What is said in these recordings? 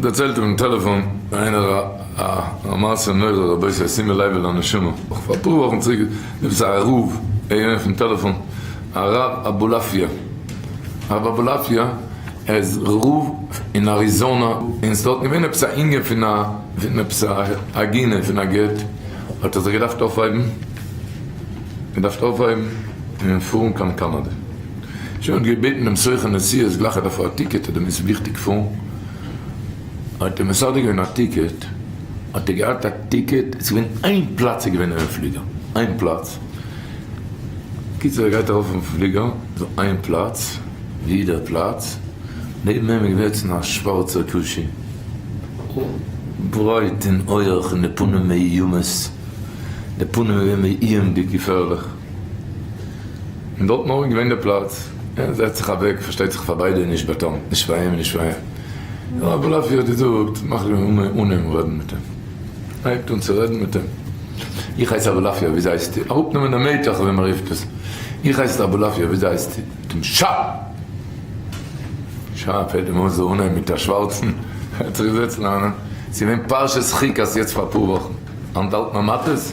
דערציילט אויפן טעלעפאן איינער א מעשה נורא רבותי שימו לב אל הנשמה, נאך פאר אפאר וואכן צוריק איז עפעס א ערוב געווען אויפן טעלעפאן הרב אבולעפיא, הרב אבולעפיא איז רב אין אריזאנא און ס'דארט געווען עפעס א ענין פון א פון עפעס א עגינה פון א גט האט ער זיך געדארפט אויפהייבן געדארפט אויפהייבן און פארן קיין קאנאדע. שוין געבעטן דעם סוכן נסיעות גלייך אדער פאר א טיקעט אדער מ'איז וויכטיג פאר האט ער מסדר געווען א טיקעט האט ער געהאט א טיקעט עס געווען איין פלאץ איז געווען אינעם פליגער איין פלאץ קיצער ער גייט ארויף אויפן פליגער דא איין פלאץ ווי דער פלאץ נעבן אים איז געוועצן א שווארצער קושי ברייט און הויעך און די פנים מאיומות די פנים איז געווען מאיומדיג געפערליך. און דארטן אויך געווען די פלאץ, ער זעצט זיך אוועק, פארשטייט זיך פאר ביידע, נישט ביי טאם, נישט פאר אים, נישט פאר אים, נאר אבער אפי' האט געזאגט, מאך די מאמע אן אים רעדן מיט אים, הייבט אן צו רעדן מיט אים, איך הייס אבולעפיא, וויאזוי הייסטו? אראפנעמען די מעטעך ווי מען רופט עס, איך הייס אבולעפיא, וויאזוי הייסטו? מיט אים שא! שא! פעלט אים אויס די אנהייב מיט א שווארצן, ער האט זיך געזעצט לערנען, ס'איז געווען פרשת חוקת יעצט פאר אפאר וואכן, אנטהאלטן המתות,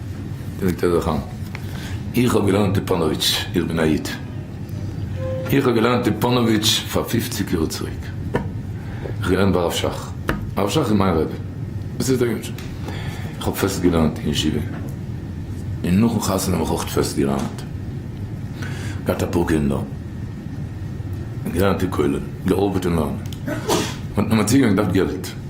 זאגט ער זיך אן, איך האב געלערנט אין פאנאוויטש, איך בין א איד, איך האב געלערנט אין פאנאוויטש פאר פופציג יאר צוריק, איך האב געלערנט ביי הרב שך, הרב שך איז מיין רבי, וואס איז דער יונגל? איך האב פעסט געלערנט אין ישיבה, און נאכן חתונה האב איך אויך פעסט געלערנט, געהאט אפאר קינדער, געלערנט אין כולל, געארבעט און אן, מ'האט מיר צוגעלייגט געלט.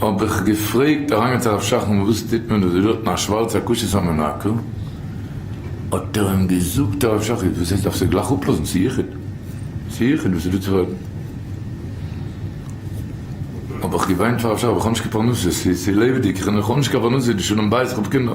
האב איך געפרעגט אריינגעצויגן הרב שך נו וואס טוט מען דא דא האט מען א שווארצע א כשר סאמע נאקל האט ער אים געזאגט הרב שך איז וואס הייסט דארפסט עס גלייך אפלאזן צו יחיד צו יחיד וואס איז דא צו פרעגן האב איך געוויינט פאר הרב שך איך האב נישט קיין פרנסה ס'איז צו לעבעדיג איך האב נישט קיין פרנסה די שלום בית איך האב קינדער.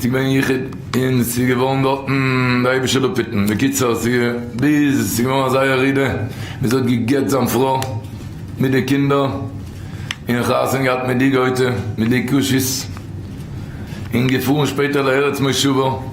ס'געווען יחוד און ס'געווארן דארטן די אראבישע לפיתן, בקיצור ביז ס'געווארן אזא ירידה ביז ער האט גע'גט זיין פרוי מיט די קינדער און חתונה געהאט מיט די גויטע מיט די קשית און געפארן שפעטער לארץ מושבו.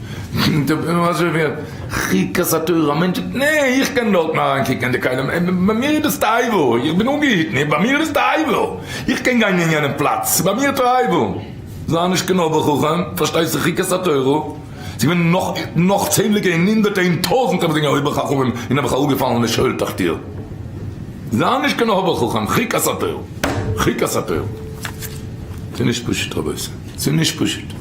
חוקת התורה, א מענטש זאגט נע איך קען דארטן אריין קוקן אין די כלים, ביי מיר איז דאס תועבה, איך בין אנגעהיטן, ביי מיר איז דאס תועבה, איך קען גיין אין יענע פלאץ, ס'איז ביי מיר תועבה, זיי נישט קיין אויבער חכם, פארשטייסטו חוקת התורה, ס'געווען נאך נאך צענדליגע און הונדערטע און טויזענטע וואס זענען אויבער חכמים און האבן זיך אראפגעפאלן לשאול תחתיו, זיי נישט קיין אויבער חכם, חוקת התורה, חוקת התורה, ס'איז נישט פשוט רבותי, ס'איז נישט פשוט.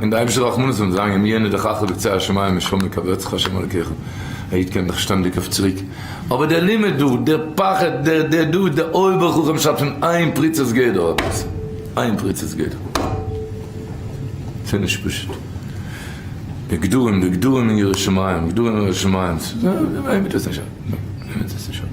און די אייבישטע רחמנות וועט זיין אם יהיה נדחך בקצה השמים משם יקבצך ה' אלקיך, א איד קען זיך שטענדיג אויף צוריק, אבער דער לימוד דא, דער פחד, דער דער דא, דער אויבער חכם שרייבט פון איין פריצת גדר האט עס, איין פריצת גדר, ס'איז נישט פשוט, די גדרים, די גדרים אין ירא שמים, גדרים אין ירא שמים, די וועמען אינטערעסירט עס שוין, וועמען אינטערעסירט עס שוין.